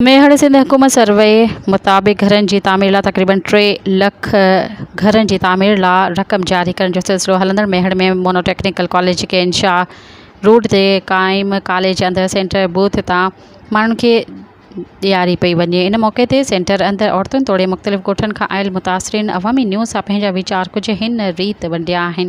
ميهڙ سنڌ حڪومت سروي مطابق گهرن جي تعمير لا تقريبن ٽي لک گهرن جي تعمير لا رقم جاري ڪرڻ جو سلسلو هلندڙ ميهڙ ۾ مونو ٽيڪنيڪل ڪاليج کي انشاء روڊ تي قائم ڪاليج اندر سينٽر بوٿ تان ماڻهن کي ڏياري پئي وڃي ان موقعي تي سينٽر اندر عورتن توڙي مختلف ڳوٺن کان آيل متاثرين عوامي نيوز سان پنهنجا ويچار ڪجهه هن ريت ونڊيا آهن.